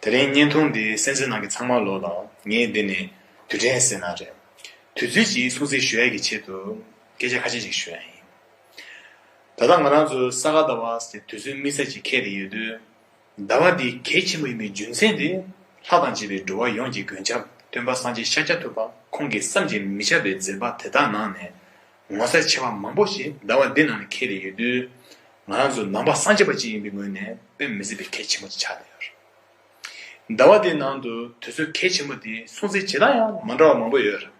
དེ་རིང་བརྙན་ཐུང་འདི་གསན་རྩིས་གནང་མཁན་ཚང་མར་ལོ་དང་ངས་འདི་ནས་དུས་དྲན་ཟེར་ན་རེད། དུས་ཚོད་ཅིག་སྲུང་བརྩི་ཞུ་ཡས་ཀྱི་ཆེད་དུ་སྐད་ཆ་ཁ་ཤས་ཅིག་ཞུ་ཡས་ཡིན། ད་ལྟ་ང་རང་ཚོ་ས་ག་ཟླ་བ་ཟེར་དུས་ཚོད་དམིགས་བསལ་ཅིག་ཁེལ་ཏེ་ཡོད་དུས། ཟླ་བ་འདི་གལ་ཆེན་པོ་ཡིན་པའི་རྒྱུ་མཚན་དེ་ལྷ་དང་བཅས་པའི་འགྲོ་བ་ཡོངས་ཀྱི་མགོན་སྐྱབས་སྟོན་པ་སངས་རྒྱས་ཤཱཀྱ་ཐུབ་པ་ཁོང་གིས་བསམ་གྱིས་མི་ཁྱབ་པའི་མཛད་པ་དེ་དག་ནང་ནས། ངོ་ཚ་ཆེ་བ་མང་པོ་ཞིག་ཟླ་བ་འདི་ནང་ནས་ཁེལ་ཏེ་ཡོད་དུས། ང་རང་ཚོ་ནང་པ་སངས་རྒྱས་པ་གཅིག་ཡིན་པའི་ངོས་ནས་དཔེ་མི་སྲིད་པའི་ཁེལ་ཆེན་པོ་ཅིག་ཆགས་བསྡད་ཡོད། ཟླ་བ་འདིའི་ནང་དུ་དུས་ཚོད་ཁེལ་ཆེན་པོ་དེའི་སྲུང་བརྩི་བྱེད་སྟངས་ཡང་མ་འདྲ་བ་མང་པོ་ཡོད་རེད།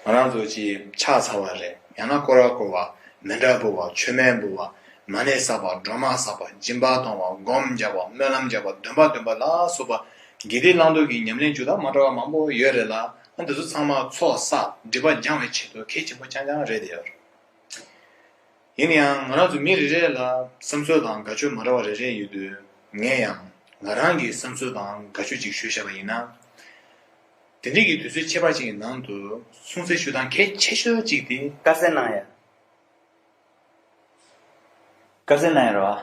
ང་རང་ཚོ་གཅིག་ཕྱག་འཚལ་བ་རེད་ཡང་ན་ཀོ་ར་བསྐོར་བ། མེ་འདྲ་འབུལ་བ་ཆོས་སྨན་འབུལ་བ། མ་ཎི་བསགས་པ་སྒྲོལ་མ་བསགས་པ་སྦྱིན་པ་གཏོང་བ་སྒོམ་རྒྱག་པ་སྨོན་ལམ་རྒྱག་པ་འདོན་པ་འདོན་པ་ལ་སོགས་པ་དགེ་སྡིག་བླང་དོར་གྱི་ཉམས་ལེན་བཅུ་དག་མ་འདྲ་བ་མང་པོ་ཡོད་རེད་ལ། ཁོང་དེ་ཚོ་ཚང་མ་ཚོགས་བསགས་སྒྲིབ་པ་འགྱང་བའི་ཆེད་དུ་གལ་ཆེན་པོ་རྐྱང་རྐྱང་རེད་དེ། ཡིན་ན་ཡང་ང་རང་ཚོ་མི་རེ་རེ་ལ་བསམ་ཚུལ་དང་དགའ་སྤྱོད་མ་འདྲ་བ་རེ་རེ་ཡོད་དུས་ངས་ཡང་ང་རང་གི་བསམ་ཚུལ་དང་དགའ་སྤྱོད་ཅིག་ཞུས་བཞག་པ་ཡིན་ན། དེ་འདྲིས་ཀྱི་དུས་ཚོད་ཕྱེད་པ་ཅིག་གི་ནང་དུ་གསུང་བསྲེ་ཞུ་སྟངས་གལ་ཆེ་ཤོས་ཅིག་དེ། དཀར་ཟས་གནང་ཡ། དཀར་ཟས་གནང་ཡ་རེད་བ།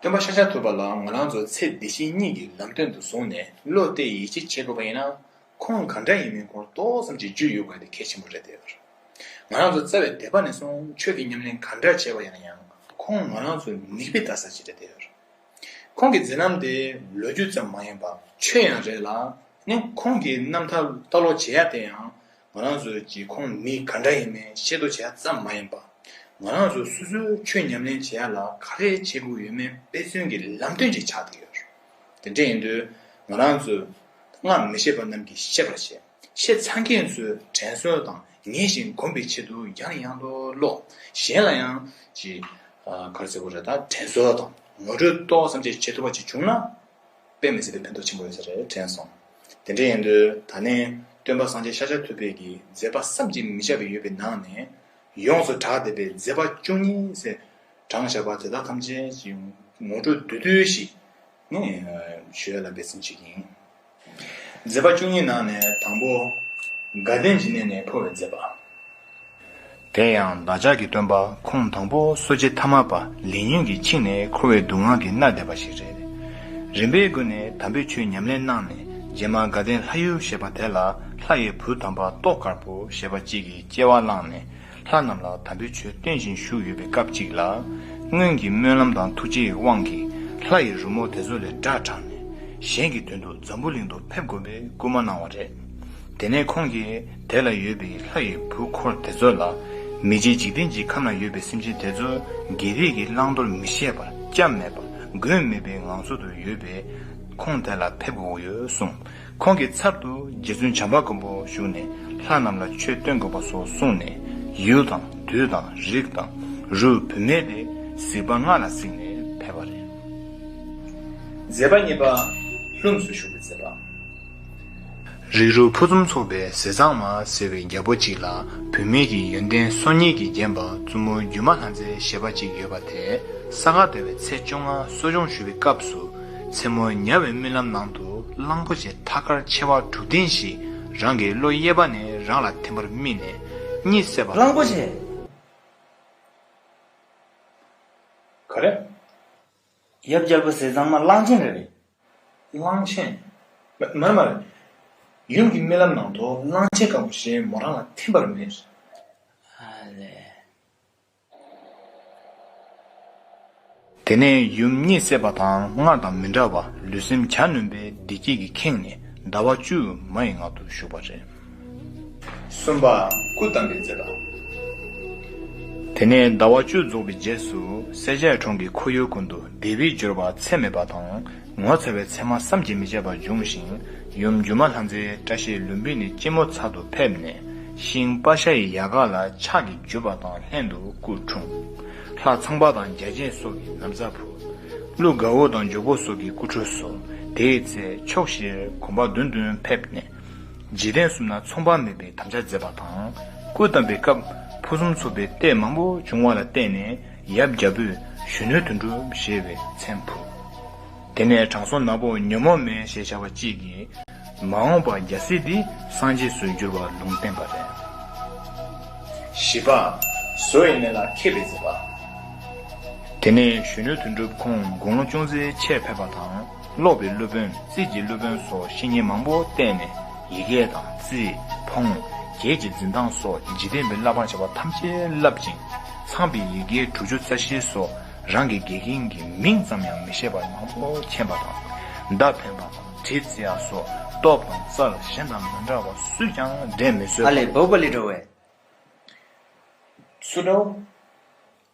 སྟོན་པ་ཤཱཀྱ་ཐུབ་པ་ལའང་ང་རང་ཚོ་ཚེ་འདི་ཕྱི་གཉིས་ཀྱི་ལམ་སྟོན་དུ་བཟུང་ནས་བློ་གཏད་ཡིད་ཆེས་བྱེད་དགོས་པ་ཡིན་ན། ཁོང་གང་འདྲ་ཡིན་མིན་ཁོང་ཏོག་ཙམ་གྱི་རྒྱུས་ཡོད་དགོས་དེ་གལ་ཆེན་པོ་རེད་དེ། ང་རང་ཚོ་རྩ་བའི་དད་པ་ནས་བཟུང་ཆོས་ཀྱི་ཉམས་ལེན་གང་འདྲ་བྱས་པ་ཡིན་ན་ཡང་ཁོང་ང་རང་ཚོའི་མིག་དཔེ་ལྟ་ས་ཅིག་རེད་དེ། ཁོང་གི་མཛད་རྣམ་དེ་ལོ་རྒྱུས་ཙམ་མ་ཡིན་པར་ཆོས་ཡང་རེད་ལ། ཁོང་གི་རྣམ་ཐར་ལྟ་ཀློག་བྱེད་ཡ་དེ་ཡང་ང་རང་ཚོའི་གྱི་ཁོངས་མི་ག་འདྲ་ཡིན་མིན་ཤེས་རྟོགས་བྱས་ཙམ་མ་ཡིན་པར། ང་རང་ཚོ་སོ་སོའི་ཁྱོད་ཉམས་ལེན་བྱེད་ཡ་ལ་ག་རེ་བྱེད་དགོས་ཡོད་མེད་དཔེ་མཚོན་གྱི་ལམ་སྟོན་ཅིག་ཆགས་བསྡད་ཡོད། དེ་འདྲ་ཡིན་དུས་ང་རང་ཚོའི་སྔ་མི་ཤེས་པ་རྣམས་ཀྱིས་ཤེས་པར་བྱས། ཤེས་ཚར་མཁན་ཚོའི་དྲན་གསོ་དང་ངེས་ཤིང་སྒོམ་པའི་ཆེད་དུ་ཡང་ཡང་དུ་ཀློག་གཞན་ལ་ཡང་གྱི་གར་ཚེ་བོ་རེ་དང་དྲན་གསོ་དང་ངོ་སྤྲོད་ཏོག་ཙམ་བྱེད་ཐུབ་པ་ཅིག་བྱུང་ན། དཔེ་མི་སྲིད་པའི་ཕན་ཐོགས་ཆེན་པོ་ཡོད་ས་རེད་དྲན་སོང། དེ་འདྲ་ཡིན་དུས་ད་ནི་སྟོན་པ་སངས་རྒྱས་ཤཱཀྱ་ཐུབ་དཔལ་གྱིས་མཛད་པ་བསམ་གྱིས་མི་ཁྱབ་པའི་ཡོད་པའི་ནང་ནས་ཡོངས་སུ་གྲགས་བསྡད་པའི་མཛད་པ་བཅུ་གཉིས་སའི་དྲངས་བཞག་པ་དེ་དག་ཐམས་ཅད་ཀྱི་ངོ་སྤྲོད་བསྡུས་བསྡུས་ཤིག་ནི་བྱོས་ལ་འབད་བརྩོན་བྱེད་ཀྱི་ཡིན། མཛད་པ་བཅུ་གཉིས་ནང་ནས་དང་པོ་དགའ་ལྡན་གྱི་གནས་ནས་འཕོ་བའི་མཛད་པ། དེ་ཡང་བདག་ཅག་གི་སྟོན་པ་ཁོང་དང་པོ་གསོ་བྱེད་ཐ་མ་པ་ལིན་ཡུན་གྱིས་ཆིངས་ནས་འཁོར་བའི་སྡུག་བསྔལ་གྱིས་མནར་བསྡད་པ་ཞིག་རེད། རིམ་པས་དགོན་ནས་དམ་པའི་ཆོས་ཉམས་ལེན་གནང་ནས་རྗེས་མར་དགའ་ལྡན་ལྷ་ཡུལ་ཞེས་པ་དེ་ལ་ལྷ་ཡི་བུ་དམ་པ་ཏོག་དཀར་པོ་ཞེས་པ་གཅིག་གིས་སྐྱེ་བ་བླངས་ནས་ལྷ་རྣམས་ལ་དམ་པའི་ཆོས་སྟོན་བཞིན་བཞུགས་ཡོད་པའི་སྐབས་གཅིག་ལ། སྔོན་གྱི་སྨོན་ལམ་དང་ཐུགས་རྗེའི་དབང་གིས་ལྷ་ཡི་རོལ་མོ་དེ་ཚོ་ལས་སྒྲ་དྲངས་ནས་གཞན་གྱི་དོན་དུ་འཛམ་བུ་གླིང་དུ་ཕེབས་དགོས་པའི་བསྐུལ་མ་གནང་བ་རེད། དེ་ནས་ཁོང་གིས་དེ་ལ་ཡོད་པའི་ལྷ་ཡི་བུ་འཁོར་དེ་ཚོ་ལ། མི་རྗེ་འཇིག་རྟེན་གྱི་ཁམས་ན་ཡོད་པའི་སེམས་ཅན་དེ་ཚོ་རྒྱལ་རིགས་ཀྱི་བླང་དོར་མི་ཤེས་པར་སྐྱབས་མེད་པ་མགོན་མེད་པའི་ངང་ཚུལ་དུ་ཡོད་པས། ཁོང་དེ་ལ་ཕེབས་དགོས་ཡོད་གསུངས། ཁོང་གི་ཚབ་ཏུ་རྗེ་བཙུན་བྱམས་པ་མགོན་པོ་བཞུགས་ནས་ལྷ་རྣམས་ལ་ཆོས་སྟོན་དགོས་པ་སོགས་གསུངས་ནས། ཡུལ་དང་དུས་དང་རིགས་དང་རུས་བུ་མེད་པའི་གཟིགས་པ་ལྔ་ལ་གཟིགས་ནས་ཕེབས་པ་རེད། མཛད་པ་གཉིས་པ། ལྷུམས་སུ་ཞུགས་པའི་མཛད་པ། རིགས་རུས་ཕུན་སུམ་ཚོགས་པའི་ཟས་གཙང་མ་ཟེར་བའི་རྒྱལ་པོ་གཅིག་ལ་བུད་མེད་ཀྱི་ཡོན་ཏན་སོ་གཉིས་ཀྱིས་བརྒྱན་པ་བཙུན་མོ་སྒྱུ་མ་ལྷ་མཛེས་ཞེས་པ་གཅིག་ཡོད་པ་དེ་ས་ག་ཟླ་བའི་ཚེས་བཅོ་ལྔ་གསོ་སྦྱོང་ཞུ་བའི་སྐབས་སུ་མཚན་མོ་ཉལ་བའི་རྨི་ལམ་ནང་དུ་གླང་པོ་ཆེ་ཐ་སྐར་མཆེ་བ་དྲུག་ལྡན་ཞིག་རང་གི་གློ་གཡས་པ་ནས་རང་ལ་ཐིམ་པར་རྨིས་ནས་གཉིད་སད་པ་གླང་པོ་ཆེ། ག་རེ། ཡབ་རྒྱལ་པོ་ཟས་གཙང་མ་གླང་ཆེན་རེད། གླང་ཆེན། མ་རེད་མ་རེད། ཡུམ་གྱི་རྨི་ལམ་ནང་དུ་གླང་ཆེན་དཀར་པོ་ཞིག་མོ་རང་ལ་ཐིམ་པར་རྨིས། དེ་ནས་ཡུམ་གཉིད་སད་པ་དང་སྔར་དང་མི་འདྲ་བར་ལུས་སེམས་གྱ་ནོན་པའི་བདེ་སྐྱིད་ཀྱིས་ཁེངས་ནས་ཟླ་བ་བཅུ་དུ་མ་ཡི་ངག་ཏུ་བཞུགས་པ་རེད། གསུམ་པ། སྐུ་བལྟམས་པའི་མཛད་པ། དེ་ནས་ཟླ་བ་བཅུ་རྫོགས་པའི་རྗེས་སུ་སེར་བྱེས་གྲོང་གི་ཁོར་ཡུག་ཀུན་ཏུ་བདེ་བའི་སྦྱོར་བ་ཚད་མེད་པ་དང་ངོ་མཚར་བའི་མཚན་མ་བསམ་གྱིས་མི་ཁྱབ་པ་འབྱུང་ཞིང་ཡུམ་སྒྱུ་མ་ལྷ་མཛེས་བཀྲ་ཤིས་ལུམ་བི་ནི་སྐྱིལ་མོ་མཚར་དུ་ཕེབས་ནས་ཤིང་སྤ་ཤ་ཡི་ཡལ་ག་ལ་ཕྱག་གིས་འཇུ་བ་དང་ལྷན་དུ་སྐུ་འཁྲུངས། ལྷ་ཚངས་པ་དང་རྒྱ་ཅན་སོགས་ཀྱིས་ནམ་བཟའ་ཕུལ། ཀླུ་ག་འུ་དང་འཇུག་པོ་སོགས་ཀྱིས་སྐུ་འཁྲུངས་སོ། དེའི་ཚེ་ཕྱོགས་བཞིར་གོམ་པ་བདུན་བདུན་ཕེབས་ནས། རྗེས་དྲན་གསུམ་ན་ཚོང་དཔག་མེད་པའི་དམ་བཅའ་མཛད་པ་དང། སྐུ་བལྟམས་པའི་སྐབས་ཕུན་སུམ་ཚོགས་པའི་ལྟས་མང་པོ་བྱུང་བ་ལ་བརྟེན་ནས་ཡབ་རྒྱ་བོས་གཞོན་ནུའི་དོན་བསྒྲུབས་ཞེས་པའི་མཚན་ཕུལ། དེ་ནས་དྲང་སྲོང་ནག་པོ་ཉོན་མོངས་མེ་ཞེས་བྱ་བ་གཅིག་གིས། མ་འོངས་པར་རྒྱལ་སྲིད་འདི་སངས་རྒྱས་སུ་འགྱུར་བར་ལུང་བསྟན་པ་རེད། བཞི་པ། བཟོ་བའི་གནས་ལ་མཁས་པའི་མཛད་པ། དེ་ནས་གཞོན་ནུའི་དོན་བསྒྲུབས་ཁོང་དགུང་ལོ་ཅུང་ཟད་ཆད་ཕེབས་པ་དང། ཀློག་པའི་སློབ་དཔོན་རྩིས་ཀྱི་སློབ་དཔོན་སོགས་བཤེས་གཉེན་མང་པོ་བསྟེན་ནས་ཡི་གེ་དང་རྩིས། འཕོང། རྒྱལ་གྱི་འཛིན་སྟངས་སོགས་འཇིག་རྟེན་པའི་བསླབ་པར་བྱ་བ་ཐམས་ཅད་བསླབ་ཅིང། ཚངས་པའི་ཡི་གེ་དྲུག་ཅུ་རྩ་བཞི་སོགས་རང་གི་དགེ་རྒན་གྱི་མིང་ཙམ་ཡང་མི་ཤེས་པར་མང་པོ་མཁྱེན་པ་དང། མདའ་འཕེན་པ་དང་གྲི་རྩིས་ཨ་སོགས་སྟོབས་དང་རྩལ་གཞན་དང་མི་འདྲ་བ་སུས་ཀྱང་འགྲན་མི་བཟོད་ཨ་པ། ལས་བོད་པ་ལས་འགྲོ་བས། སུ་འདྲ་བོ།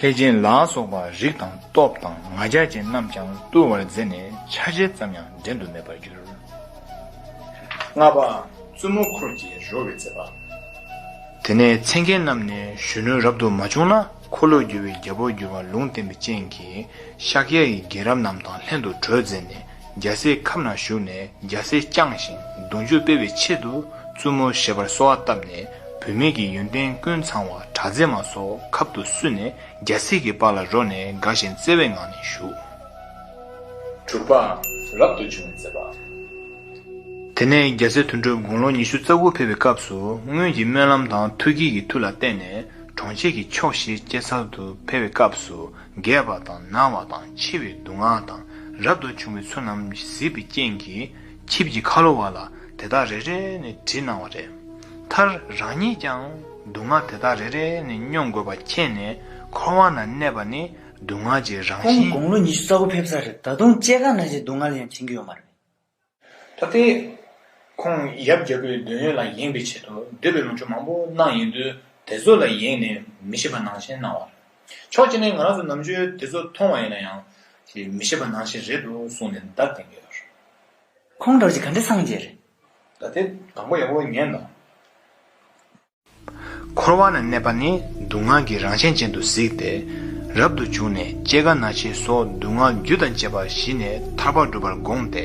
ལྷས་བྱིན་ལ་སོགས་པ་རིགས་དང་སྟོབས་དང་ང་རྒྱལ་ཅན་རྣམས་ཀྱང་བཏུལ་བར་མཛད་ནས་ཆ་བྱད་ཙམ་ཡང་འགྲན་དུ་མེད་པར་གྱུར། ལྔ་པ། བཙུན་མོ་འཁོར་གྱི་རོལ་བའི་མཛད་པ། དེ་ནས་མཚན་མཁན་རྣམས་ནས་གཞོན་ནུ་རབ་ཏུ་མ་བྱུང་ན་འཁོར་ལོས་སྒྱུར་བའི་རྒྱལ་པོར་འགྱུར་བ་ལུང་བསྟན་པའི་སྤྱན་གྱིས་ཤཱཀྱ་ཡི་རྒན་རབས་རྣམས་དང་ལྷན་དུ་གྲོས་མཛད་ནས། རྒྱལ་སྲས་ཁབ་ན་བཞུགས་ནས་རྒྱལ་སྲས་བསྐྱངས་ཤིང་གདུང་རྒྱུད་སྤེལ་བའི་ཆེད་དུ་བཙུན་མོ་ཞེས་པར་གསོལ་བ་བཏབ་ནས་བུད་མེད་ཀྱི་ཡོན་ཏན་ཀུན་ཚང་བ་གྲ་རྫས་མ་སོགས་ཁབ་ཏུ་བསུས་ནས་རྒྱལ་སྲས་ཀྱི་པར་ལ་རོལ་ནས་དགའ་ཞིང་བརྩེ་བའི་ངང་ནས་བཞུགས། གྲུབ་པའང་རབ་ཏུ་བྱུང་བའི་མཛད་པ། དེ་ནས་རྒྱལ་སྲས་དོན་གྲུབ་དགུང་ལོ་ཉི་ཤུ་རྩ་དགུ་ཕེབས་པའི་སྐབས་སུ་སྔོན་གྱི་སྨོན་ལམ་དང་ཐུགས་བསྐྱེད་ཀྱི་མཐུ་ལ་བརྟེན་ནས་གྲོང་ཁྱེར་གྱི་ཕྱོགས་བཞིར་སྐྱེལ་ཚར་དུ་ཕེབས་པའི་སྐབས་སུ་རྒས་པ་དང་ན་བ་དང་འཆི་བའི་སྡུག་བསྔལ་དང་རབ་ཏུ་བྱུང་བའི་ཚུལ་རྣམས་གཟིགས་པའི་རྐྱེན་གྱིས་ཆིབས་ཀྱི་ཁ་ལོ་བ་ལ་དེ་དག་རེ་རེ་ནས་དྲིས་གནང་བ་རེད། མཐར་རང་ཉིད་ཀྱང་སྡུག་བསྔལ་དེ་དག་རེ་རེ་ནས་སྙོམས་དགོས་པ་མཁྱེན་ནས་འཁོར་བ་ན་གནས་པ་ནི་སྡུག་བསྔལ་གྱི་རང་ཁོང་བཞིན། དགུང་ལོ་ཉི་ཤུ་རྩ་དགུ་ཕེབས་ས་རེད་ད་དུང་སྐྱེ་རྒ་ན་འཆིའི་སྡུག་བསྔལ་ཡང་མཁྱེན་གྱི་ཡོད་མ་རེད། ད་ལྟའི་ཁོང་ཡབ་རྒྱལ་པོའི་འདོད་ཡོན་ལ་ཡེངས་པའི་ཆེད་དུ་འདོད་པའི་ལོངས་སྤྱོད་མང་པོ་གནང་ཡིན་དུས་དེ་ཚོ་ལ་ཡེངས་ནས་མི་ཤེས་པ་ནང་བཞིན་གནང་བ་རེད། ཕྱོགས་གཅིག་ནས་ང་རང་ཚོ་ནམ་ཆོས་དེ་ཚོ་མཐོང་བ་ཡིན་ན་ཡང་མི་ཤེས་པ་ནང་བཞིན་རེད་འདུག་གསུངས་ནས་འདར་ལྡིང་གི་ཡོད་རེད། ཁོང་གྲོགས་ཀྱི་ག་འདྲའི་སངས་རྒྱས་རེད། ད་ལྟའི་དང་པོ་ཡག་པོ་ཉན་དང། འཁོར་བ་ན་གནས་པ་ནི་སྡུག་བསྔལ་གྱི་རང་བཞིན་ཅན་དུ་གཟིགས་ཏེ། རབ་ཏུ་བྱུང་ནས་སྐྱེ་རྒ་ན་འཆིའི་སོགས་སྡུག་བསྔལ་རྒྱུ་དང་བཅས་པ་ཞི་ནས་ཐར་པ་འགྲུབ་པར་དགོངས་ཏེ་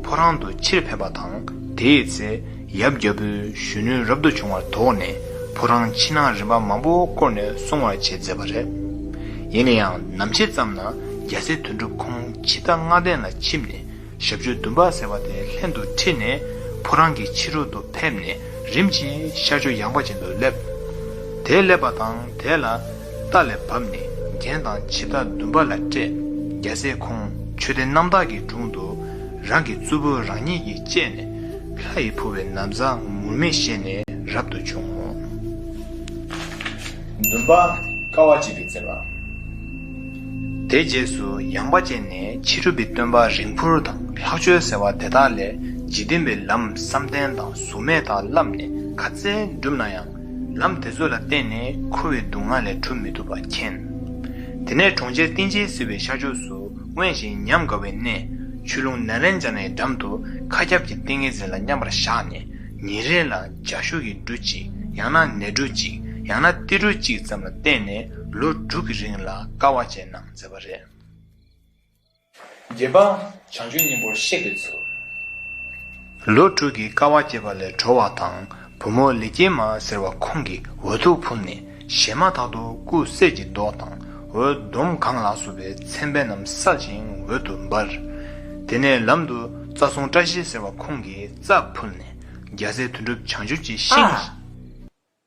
ཕོ་བྲང་དུ་ཕྱིར་ཕེབས་པ་དང་དེའི་ཚེ་ཡབ་རྒྱལ་པོས་གཞོན་ནུའི་རབ་ཏུ་བྱུང་བར་དོགས་ནས་ཕོ་བྲང་ཕྱི་ནང་རིམ་པ་མང་པོ་བསྐོར་ནས་སྲུང་བར་བྱེད་མཛད་པ་རེད། ཡིན་ན་ཡང་ནམ་ཕྱེད་ཙམ་ན་རྒྱལ་སྲས་དོན་གྲུབ་ཁོང་ཕྱི་རྟ་རྔ་གདན་ལ་ཕྱིན་ནས། ཞབས་ཀྱི་འདུན་པ་ཟེར་བ་དེ་ལྷན་དུ་ཁྲིད་ནས་ཕོ་རང་གི་ཕྱི་རོལ་དུ་ཕེབས་ནས་རིམ་གྱིས་ཤར་ཕྱོགས་ཡངས་པ་ཅན་དུ་སླེབས། དེ་སླེབས་པ་དང་དེ་ལ་རྟ་ལས་བབས་ནས་རྒྱན་དང་ཕྱི་རྟ་འདུན་པ་ལ་སྤྲད། རྒྱལ་སྲས་ཁོང་ཆོས་སྡེ་རྣམ་དག་གི་དྲུང་དུ་རང་གི་གཙོ་བོས་རང་ཉིད་ཀྱིས་བཅས་ནས་ལྷ་ཡི་ཕུར་བའི་ནམ་བཟའ་ངུར་སྨྲིག་བཞེས་ནས་རབ་ཏུ་བྱུང། འདུན་པ་དཀའ་བ་གཅིག་གིས་མཛད་པ། དེའི་རྗེས་སུ་ཡངས་པ་ཅན་ནས་ཕྱི་སྒྲུབ་པའི་སྟོན་པ་རིང་འཕུར་དང་ལྷག་ཆོས་ཟེར་བ་དེ་དག་ལས་འཇིག་རྟེན་པའི་ལམ་བསམ་གཏན་དང་གཟུགས་མེད་དག་བསླབས་ནས་ག་ཚད་བསྒྲུབས་ན་ཡང་ལམ་དེ་ཚོ་ལ་བརྟེན་ནས་འཁོར་བའི་སྡུག་བསྔལ་ལས་གྲུབ་མི་ཐུབ་པ་མཁྱེན། དེ་ནས་གྲོང་ཁྱེར་ཏིང་འཇིལ་ཟེར་བའི་ཤར་ཕྱོགས་སུ་དབེན་ཞིང་ཉམས་དགའ་བའི་གནས་ཆུ་ཀླུང་ན་རན་འཇགས་ནའི་འགྲམ་དུ་མཁའ་ཁྱབ་ཀྱི་ཏིང་ངེ་འཛིན་ལ་མཉམ་པར་བཞག་ནས་ཉིན་རེ་ལ་འཇའ་ཤུགས་ཀྱི་འབྲུ་གཅིག་ཡང་ན་ནས་འབྲུ་གཅིག་ཡང་ན་ཏི་འབྲུ་གཅིག་ཙམ་ལ་བརྟེན་ནས་ལོ་དྲུག་གི་རིང་ལ་དཀའ་བ་ཅན་རྣམས་མཛད་པ་རེད། བརྒྱད་པ། བྱང་ཆུབ་སྙིང་པོར་གཤེགས་པའི་ཚུལ། ལོ་དྲུག་གི་དཀའ་བ་སྤྱད་པ་ལས་གྲོལ་བ་དང་བུ་མོ་ལི་སྐྱེས་མ་ཟེར་བ་ཁོང་གི་འོ་ཐུག་ཕུབ་ནས་བཞེས་མ་ཐག་ཏུ་སྐུ་གསེར་གྱི་མདོག་དང་འོད་ཟླུམ་གང་ལགས་སུ་བའི་མཚན་དཔེ་རྣམས་སྲབ་ཅིང་འོད་དུ་འབར། དེ་ནས་ལམ་དུ་རྩ་གསུང་བཀྲ་ཤིས་ཟེར་བ་ཁོང་གིས་རྩ་ཕུབ་ནས་རྒྱལ་སྲས་དོན་གྲུབ་བྱང་ཆུབ་ཀྱི་ཤིང།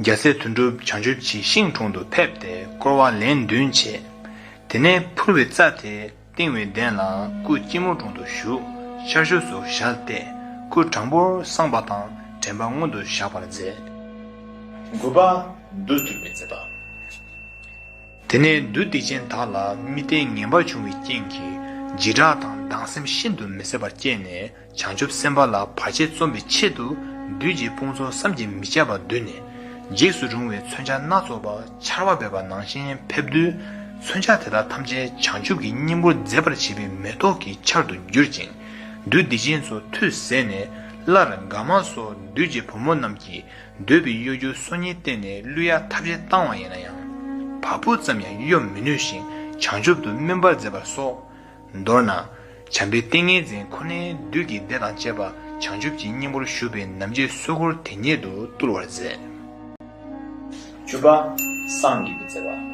རྒྱལ་སྲས་དོན་གྲུབ་བྱང་ཆུབ་ཀྱི་ཤིང་དྲུང་དུ་ཕེབས་ཏེ་བསྐོར་བ་ལན་བདུན་བྱས། དེ་ནས་ཕུར་བའི་རྩ་དེ་བཏིང་བའི་གདན་ལ་སྐུ་སྐྱིལ་མོ་དྲུང་དུ་བཞུགས་ཤར་ཕྱོགས་སུ་ཞལ་བལྟས་སྐུ་དྲང་པོར་བསྲངས་པ་དང་དྲན་པ་མངོན་དུ་བཞག་པར་མཛད། དགུ་པ། བདུད་བཏུལ་བའི་མཛད་པ། དེ་ནས་བདུད་སྡིག་ཅན་དག་ལ་རྨི་ལྟས་ངན་པ་བྱུང་བའི་རྐྱེན་གྱིས་འཇིགས་སྐྲག་དང་སྡང་སེམས་ཤིན་ཏུ་མི་བཟད་པར་སྐྱེས་ནས། བྱང་ཆུབ་སེམས་དཔའ་ལ་བར་ཆད་རྩོམ་པའི་ཆེད་དུ་བདུད་ཀྱི་དཔུང་ཚོགས་བསམ་གྱིས་མི་ཁྱབ་པ་བསྡུས་ནས། འཇིགས་སུ་རུང་བའི་མཚོན་ཆ་སྣ་ཚོགས་པ་ཆར་བ་འབེབས་པ་ནང་བཞིན་ཕེབས། བདུད་མཚོན་ཆ་དེ་དག་ཐམས་ཅད་བྱང་ཆུབ་ཀྱི་སྙིང་པོར་མཛེས་པར་བྱེད་པའི་མེ་ཏོག་གི་ཆར་དུ་གྱུར་ཅིང། བདུད་སྡིག་ཅན་ཚོ་ཐུགས་ཟད་ནས། སླར་དགའ་མ་སོགས་བདུད་ཀྱི་བུ་མོ་རྣམས་ཀྱིས་འདོད་པའི་གཡོ་སྒྱུ་སོ་གཉིས་བསྟན་ནས་གླུ་ཡ་ཐབས་ཅན་བཏང་བ་ཡིན་ན་ཡང། བ་སྤུ་ཙམ་ཡང་གཡོ་མི་ནུས་ཤིང་བྱང་ཆུབ་ཏུ་སྨིན་པར་མཛད་པ་སོགས། མདོར་ན། བྱམས་པའི་ཏིང་ངེ་འཛིན་ཁོ་ནའི་བདུད་ཀྱི་སྡེ་དང་བཅས་པ་བྱང་ཆུབ་ཀྱི་སྙིང་པོར་ཞུགས་པའི་ནམ་ཕྱེད་གསོལ་འཁོར་དེ་ཉིད་དུ་བཏུལ་བར་མཛད། བཅུ་པ། སངས་རྒྱས་ཀྱི་བརྩེ་བ།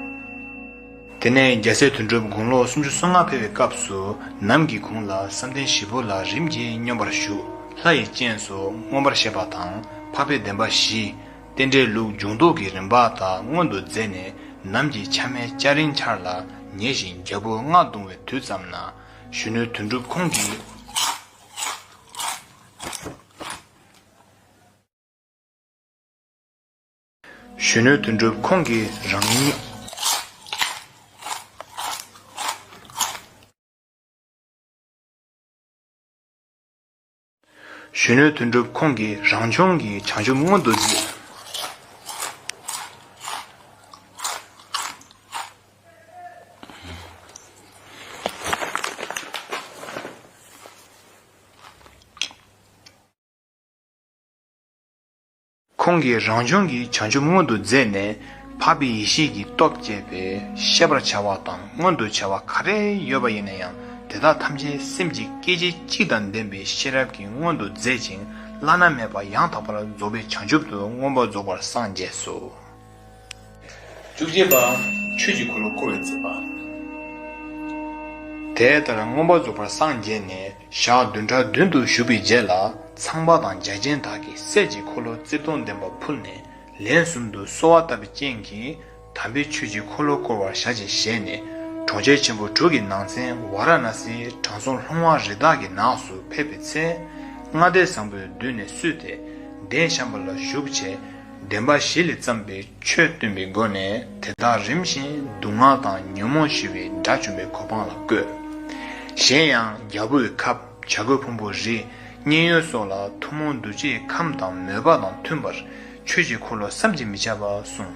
དེ་ནས་རྒྱལ་སྲས་དོན་གྲུབ་དགུང་ལོ་སུམ་ཅུ་སོ་ལྔ་འཕེལ་བའི་སྐབས་སུ་ནམ་གྱི་གུང་ལ་བསམ་གཏན་བཞི་པོ་ལ་རིམ་གྱིས་སྙོམས་པར་ཞུགས་ལྷ་ཡི་སྤྱན་སོགས་མངོན་པར་ཤེས་པ་དང་འཕགས་པའི་བདེན་པ་བཞི། རྟེན་འབྲེལ་ལུགས་འབྱུང་རྟོག་གི་རིམ་པ་དག་སྔོན་དུ་མཛད་ནས་ནམ་གྱི་ཕྱ་མའི་སྐྱ་རེངས་འཆར་ལ་ཉེ་ཞིང་རྒྱལ་པོ་མངའ་བརྡུང་བའི་དུས་ཙམ་ན། གཞོན་ནུ་དོན་གྲུབ་ཁོང་གིས་རང་ཉིད། གཞོན་ནུ་དོན་གྲུབ་ཁོང་གིས་རང་བྱུང་གི་བྱང་ཆུབ་སྔོན་དུ་འཛིན། ཁོང་གིས་རང་བྱུང་གི་བྱང་ཆུབ་མངོན་དུ་མཛད་ནས་འཕགས་པའི་ཡེ་ཤེས་ཀྱི་སྟོབས་བསྐྱེད་པས་ཤེས་པར་བྱ་བ་དང་མངོན་དུ་བྱ་བ་ག་རེ་ཡོད་པ་ཡིན་ན་ཡང་དེ་དག་ཐམས་ཅད་སེམས་ཀྱི་སྐད་ཅིག་གཅིག་དང་ལྡན་པའི་ཤེས་རབ་ཀྱིས་མངོན་དུ་མཛད་ཅིང་བླ་ན་མེད་པ་ཡང་དག་པར་རྫོགས་པའི་བྱང་ཆུབ་ཏུ་མངོན་པར་རྫོགས་པར་སངས་རྒྱས་སོ། བཅུ་གཅིག་པ། ཆོས་ཀྱི་འཁོར་ལོ་བསྐོར་བའི་མཛད་པ། དེ་ལྟར་མངོན་པར་རྫོགས་པར་སངས་རྒྱས་ནས་ཞག་བདུན་ཕྲག་བདུན་དུ་བཞུགས་པའི་རྗེས་ལ་ཚངས་པ་དང་རྒྱ་ཅན་དག་གིས་སྲས་ཀྱི་འཁོར་ལོ་རྩིབས་སྟོང་ལྡན་པ་ཕུལ་ནས་ལན་གསུམ་དུ་གསོལ་བ་བཏབ་པའི་རྐྱེན་གྱིས་དམ་པའི་ཆོས་ཀྱི་འཁོར་ལོ་བསྐོར་བར་བྱ་ཞེས་བཞེད་ནས་གྲོང་ཁྱེར་ཆེན་པོ་དྲུག་གི་ནང་ཚན་ཝཱ་ར་ཎཱ་སིའི་དྲང་སྲོང་ལྷུང་བ་རི་དྭགས་ཀྱི་ནགས་སུ་ཕེབས་པའི་ཚེ། མངའ་སྡེ་བཟང་པོའི་མདུན་ནས་བསུས་ཏེ་གདན་བཤམས་པ་ལ་བཞུགས་བྱས། བདེན་པ་བཞི་ལས་བརྩམས་པའི་ཆོས་སྟོན་པའི་སྒོ་ནས་དེ་དག་རིམ་བཞིན་སྡུག་བསྔལ་དང་ཉོན་མོངས་ཞི་བའི་དགྲ་བཅོམ་པའི་གོ་འཕང་ལ་བཀོད། གཞན་ཡང་རྒྱལ་པོའི་ཁབ་བྱ་རྒོད་ཕུང་པོ་རི་སྙན་ཡོལ་སོགས་ལ་ཐུན་མོང་གདུལ་བྱའི་ཁམས་དང་མོས་པ་དང་མཐུན་པར་ཆོས་ཀྱི་འཁོར་ལོ་བསམ་གྱིས་མི་ཁྱབ་པ་གསུངས།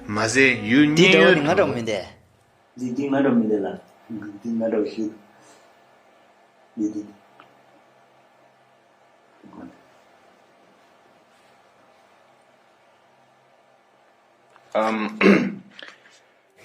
མ་ཟད་ཡུལ་དེའི་སྙན་གྲྭ་བ་ཡོལ་ནི་ང་དུ། འདྲ་བ་མིན་ཏེ། འདི་འདི་ང་འདྲ་མི་འདི་ལ། འདི་འདི་ང་འདྲ་བ་ཞིག། འདི་འདི།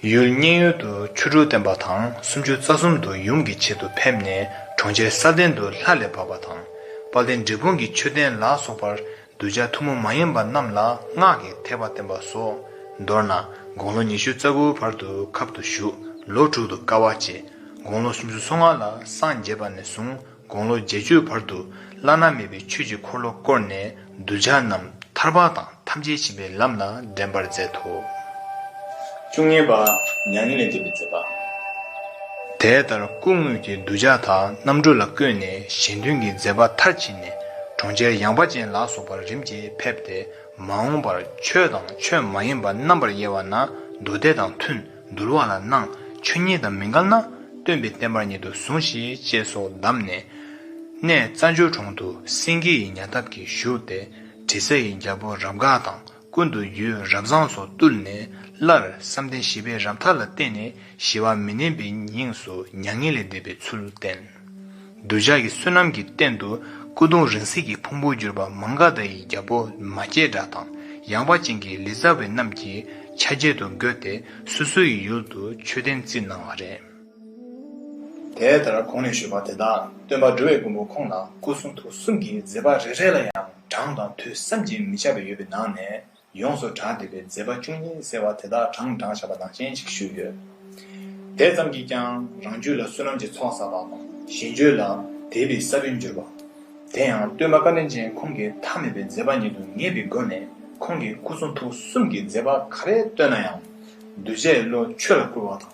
ཡུལ་རྙིང་ཡུལ་དུ་ཆོས་དྲུག་བསྟན་པ་དང་སུམ་ཅུ་རྩ་གསུམ་དུ་ཡུམ་གྱི་ཆེད་དུ་ཕེབས་ནས་གྲོང་ཁྱེར་ས་བདེ་འདུ་ལྷ་ལས་བབས་པ་དང། དཔའ་བདེ་འབྲས་སྤུངས་ཀྱི་མཆོད་རྟེན་ལ་སོགས་པར་གདུལ་བྱ་ཐུན་མོང་མ་ཡིན་པ་རྣམས་ལ་སྔགས་ཀྱི་ཐེག་པ་བསྟན་པ་སོགས་མདོར་ན་དགུང་ལོ་ཉི་ཤུ་རྩ་དགུའི་བར་དུ་ཁབ་ཏུ་བཞུགས་ལོ་དྲུག་ཏུ་དཀའ་བ་སྤྱད། དགུང་ལོ་སུམ་ཅུ་སོ་ལྔ་ལ་སངས་རྒྱས་པ་ནས་བཟུང་དགུང་ལོ་བརྒྱད་ཅུའི་བར་དུ་བླ་ན་མེད་པའི་ཆོས་ཀྱི་འཁོར་ལོ་བསྐོར་ནས་གདུལ་བྱ་རྣམས་ཐར་པ་དང་ཐམས་ཅད་བྱིན་པའི་ལམ་ལ་འདྲེན་པར་མཛད་དོ། བཅུ་གཉིས་པ། མྱ་ངན་ལས་འདས་པའི་མཛད་པ། དེ་ལྟར་སྐུ་དངོས་ཀྱི་གདུལ་བྱ་དག་རྣམ་གྲོལ་ལ་བཀོད་ནས་གཞན་དོན་གྱི་མཛད་པ་མཐར་ཕྱིན། ནས་གྲོང་ཁྱེར་ཡངས་པ་ཅན་ལ་སོགས་པར་རིམ་གྱིས་ཕེབས་ཏེ་མ་འོངས་པར་ཆོས་དང་ཆོས་མ་ཡིན་པ་རྣམ་པར་དབྱེ་བ་ན་མདོ་སྡེ་དང་མཐུན་འདུལ་བ་ལ་སྣང་ཆོས་ཉིད་དང་མི་འགལ་ན་སྟོན་པའི་བསྟན་པར་ཉིད་དུ་ཟུངས་ཤིག་ཅེས་སོགས་གདམས་ནས། གནས་རྩ་འཇོལ་གྲོང་དུ་སེང་གེ་ཡི་ཉལ་ཐབས་ཀྱིས་བཞུགས་ཏེ་དྲི་ཟ་ཡི་རྒྱལ་པོ་རབ་དགའ་དང། ཀུན་ཏུ་རྒྱུའི་རབ་བཟང་སོགས་བཏུལ་ནས་སླར་བསམ་གཏན་བཞི་པའི་རབ་མཐའ་ལ་བརྟེན་ནས་ཞི་བ་མི་མནན་པའི་ཉིངས་སུ་མྱ་ངན་ལས་འདས་པའི་ཚུལ་བསྟན། གདུལ་བྱ་ཀྱི་བསོད་ནམས་ཀྱི་རྟེན་དུ་སྐུ་གདུང་རིང་བསྲེལ་གྱི་ཕུང་པོར་གྱུར་པ་མང་ག་དྷཱ་ཡི་རྒྱལ་པོ་མ་སྐྱེས་དགྲ་དང་ཡང་པ་ཅན་གྱི་ལི་ཙཱ་བའི་རྣམས་ཀྱི་ཆ་བྱད་དུ་འགོད་དེ་སོ་སོའི་ཡུལ་ཡུལ་དུ་མཆོད་རྟེན་བརྩིགས་གནང་བ་རེད། དེ་ལྟར་གོང་ནས་ཞུས་པ་དེ་དག་སྟོན་པ་འགྲོ་བའི་མགོན་པོ་ཁོང་ལ་སྐུ་གསུང་ཐུགས་གསུམ་གྱི་མཛད་པ་རེ་རེ་ལ་ཡང། གྲངས་དང་ཐོས་བསམ་གྱིས་མི་ཁྱབ་པ་ཡོད་པའི་ནང་ནས་ཡོངས་སུ་གྲགས་བསྡད་པའི་མཛད་པ་བཅུ་གཉིས་ཟེར་བ་དེ་དག་གྲངས་བགྲང་བྱ་བ་ནང་བཞིན་ཞིག་བཞུགས་ཡོད། དེ་ཙམ་གྱིས་ཀྱང་རང་རྒྱུད་ལ་བསོད་ནམས་ཀྱི་ཚོགས་བསགས་པ་དང་ཞེ་འགྱོད་ལ་དད་པའི་ས་བོན་གྱུར་པ། དེ་ཡང་སྟོད་མ་ཀ་ལན་ཅན་ཁོང་གིས་མཐའ་མེད་པའི་མཛད་པ་ཉིད་དུ་ངེས་པའི་སྒོ་ནས་ཁོང་གིས་སྐུ་གསུང་ཐུགས་གསུམ་གྱི་མཛད་པ་ག་རེ་བཏོན་ན་ཡང་གདུལ་བྱའི་བློ་ཆོས་ལ་བསྐུར་བ་དང།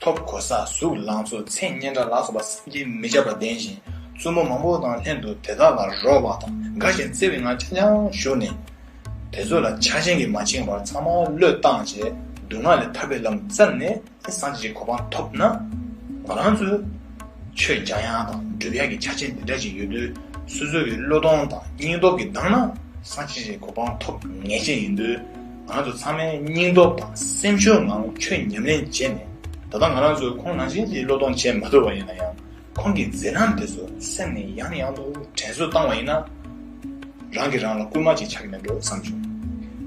ཐོབ་གོ་ས་གཟུགས་ལང་ཚོ་མཚན་སྙན་དགྲ་ལག་སོགས་པ་བསམ་གྱིས་མི་ཁྱབ་པ་ལྡན་ཞིང་བཙུན་མོ་མང་པོ་དང་ལྷན་དུ་དེ་དག་ལ་རོལ་བ་དང་དགའ་ཞིང་བརྩེ་བའི་ངང་འཆང་འཆང་བཞུགས་ནས། དེ་ཚོ་ལ་ཆགས་ཆེན་གྱིས་མ་འཆིང་བར་ཚང་མ་བློས་བཏང་བྱས་སྡུག་བསྔལ་ལས་ཐར་པའི་ལམ་བཙལ་ནས་སངས་རྒྱས་ཀྱི་གོ་འཕང་ཐོབ་ན། ང་རང་ཚོས་ཆོས་རྒྱག་ཡང་དང་སྒྲུབ་ཡག་གི་ཆ་རྐྱེན་འདི་འདྲ་ཞིག་ཡོད་དུས་སོ་སོ་ཡི་བློས་གཏོང་དང་སྙིང་སྟོབས་ཀྱིས་འདང་ན་སངས་རྒྱས་ཀྱི་གོ་འཕང་ཐོབ་ངེས་ཅན་ཡིན་དུས། ང་ཚོ་ཚང་མས་སྙིང་སྟོབས་དང་སེམས་ཤུགས་ངང་ཆོས་ཉམས་ལེན་བྱས་ནས་ད་ལྟ་ང་རང་ཚོས་ཁོང་ནང་བཞིན་གྱི་བློས་གཏོང་བྱས་མ་ཐུབ་པ་ཡིན་ན་ཡང་ཁོང་གི་མཛད་རྣམ་དེ་ཚོ་སེམས་ནས་ཡང་ཡང་དུ་དྲན་གསོ་བཏང་བ་ཡིན་ན་རང་གིས་རང་ལ་བསྐུལ་མ་ཅིག་ཆགས་ཀྱི་མེད་འགྲོ་བསམ་བྱུང།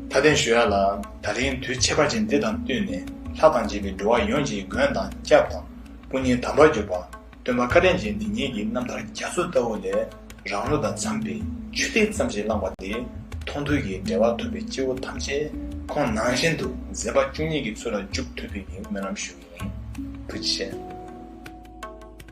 མཐའ་བརྟན་ཞུ་ཡག་ལ་ད་རིང་དུས་ཆད་པ་ཅན་འདི་དང་བསྟུན་ནས་ལྷ་དང་བཅས་པའི་འགྲོ་བ་ཡོངས་ཀྱི་མགོན་དང་སྐྱབས་དང་སྐུ་བརྙན་དམ་པར་གྱུར་པ། སྟོན་པ་བཀའ་དྲིན་ཅན་འདི་ཉིད་ཀྱིས་རྣམ་ཐར་རྒྱ་མཚོ་ལྟ་བུ་ལས་རང་བློ་དང་འཚམས་པའི་ཆོས་སྡེ་ཙམ་ཞིག་བླངས་པ་དེས་མཐོང་ཐོས་ཀྱི་འབྲེལ་བ་ཐོབ་པའི་སྐྱེ་བོ་ཐམས་ཅད་ཁོང་ནང་བཞིན་དུ་མཛེས་པ་བཅུ་གཉིས་ཀྱི་ཚུལ་ལ་འཇུག་ཐུབ་པའི་སྨོན་ལམ་ཞུ་ཡིན། བུ་ཆེ།